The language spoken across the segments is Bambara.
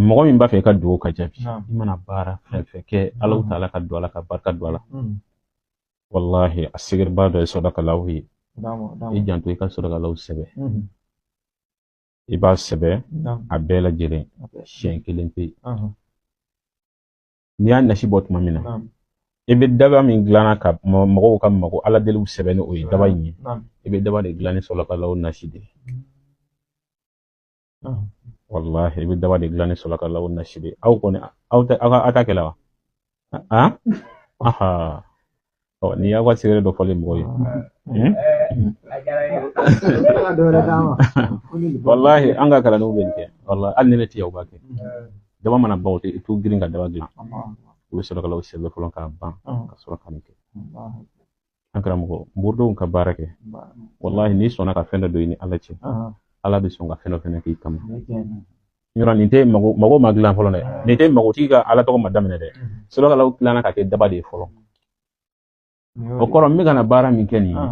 mɔgɔ min b'a fɛ i ka dugawu ka jaabi i mana baara fɛn fɛn kɛ ala taala ka don a la ka barika don a la walahi a secretba dɔ ye sodakalaw ye i janto i ka sodakalaw sɛbɛn i b'a sɛbɛn a bɛɛ lajɛlen siɲɛ kelen pe n'i y'a nasi bɔ tuma min na i bɛ daba min dilanna ka mɔgɔw ka mago ala deliw sɛbɛn ni o ye daba in ye i bɛ daba de dilan ni sodakalaw nasi de ye walahi i bɛ daba de dilan ni sodakalaw nasi de aw kɔni aw tɛ aw ka aw ta kɛlɛ wa ɔ n'i y'aw ka secret dɔ fɔlen mɔgɔ ye walahi an ka kalandenw bɛ nin kɛ walahi hali ni ne tɛ yan u b'a kɛ daba mana ban u tɛ i t'u girin ka daba dilan u bɛ sodakalaw sɛbɛn fɔlɔ k'a ban ka sɔrɔ ka nin kɛ an karamɔgɔ moridenw ka baara kɛ walahi n'i sɔnna ka fɛn dɔ don i ni ala cɛ ala bɛ sɔn ka fɛn dɔ fɛnɛ k'i kama yɔrɔ nin tɛ mago mago ma dilan fɔlɔ dɛ nin tɛ mago tigi ka ala tɔgɔ ma daminɛ dɛ sodakalaw dilanna ka kɛ daba de ye fɔlɔ o kɔrɔ n bɛ ka na baara min kɛ nin ye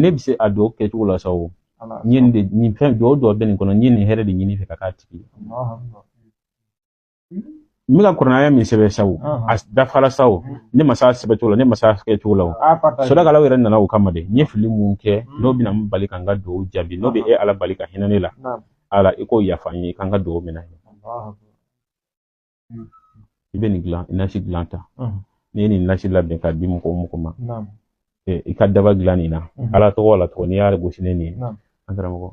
ne bɛ se a dɔw kɛcogo la sa o n ye nin de nin fɛn dɔw dɔw bɛ nin kɔnɔ n ye nin hɛrɛ de ɲini i fɛ ka k'a tigi ye n bɛ ka kurana aya min sɛbɛn sa o a dafara sa o ne ma s'a sɛbɛn cogo la ne ma s'a kɛ cogo la o sodakalaw yɛrɛ nana o kama de n ye fili min kɛ n'o bɛna n bali ka n ka dugawu jaabi n'o bɛ e ala bali ka hinɛ ne la ala i k'o yafa n ye ka n ka dugawu minɛ i bɛ nin dilan nasi dilan ta n'i ye nin nasi labɛn k'a di mɔgɔ o mɔgɔ ma i ka daba dilan nin na ala tɔgɔ la tɔgɔ n'i y'a gosi ni nin ye an karamɔgɔ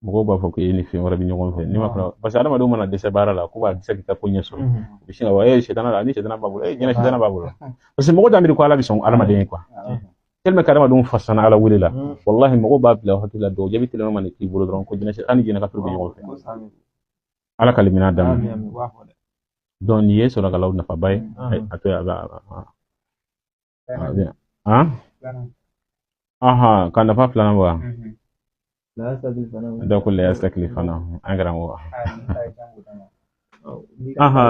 mɔgɔw b'a fɔ ko e ni fɛn wɛrɛ bɛ ɲɔgɔn fɛ ne ma fana parce que adamadenw mana dɛsɛ baara la ko b'a dɛsɛ k'i ka ko ɲɛ sɔrɔ u bɛ sin ka fɔ e sitana la ni sitana b'a bolo jinɛ sitana b'a bolo parce que mɔgɔ t'a miiri ko ala bɛ sɔn adamaden ye quoi tellement que adamadenw fasana ala wele la walahi mɔgɔw b'a bila hakili la dɔw jaabi teliman mana k'i bolo dɔrɔn ko jinɛ a ni jinɛ ka turu bɛ ɲɔgɔn fɛ ala ka limaniya d'an ma donc nin ye sodakalaw nafaba ye a to a bɛ aha ka nafa filanan bɔ wa da ko laya sakili fana an karamɔgɔ aha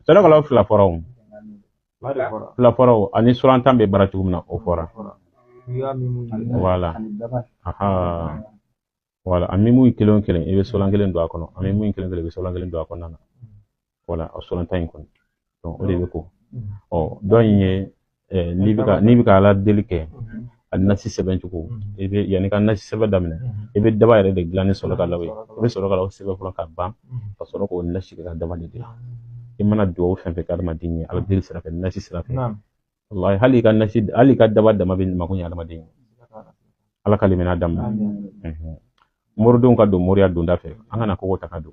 sodakalaw fila fɔra o fila fɔra o ani suran tan bɛ baara cogo min na o fɔra voilà aha voilà a mimu kelen kelen i bɛ suran kelen don a kɔnɔ a mimu kelen kelen i bɛ suran kelen don a kɔnɔna na voilà a suran tan in kɔnɔ o de bɛ ko ɔ dɔ in ye n'i bɛ ka n'i bɛ ka ala deli kɛ a nasi sɛbɛn cogo i bɛ yanni ka nasi sɛbɛn daminɛ i bɛ daba yɛrɛ de dilan ni sodakalaw ye i bɛ sodakalaw sɛbɛn fɔlɔ ka ban ka sɔrɔ k'o nasi kɛ ka daba de dilan i mana dugawu fɛn fɛn kɛ adamaden ye ala deli sira fɛ nasi sira fɛ wallahi hali i ka nasi hali i ka daba dama bɛ mako ɲɛ adamaden ye ala ka limina daminɛ moridenw ka don moriya donda fɛ an kana kogo ta ka don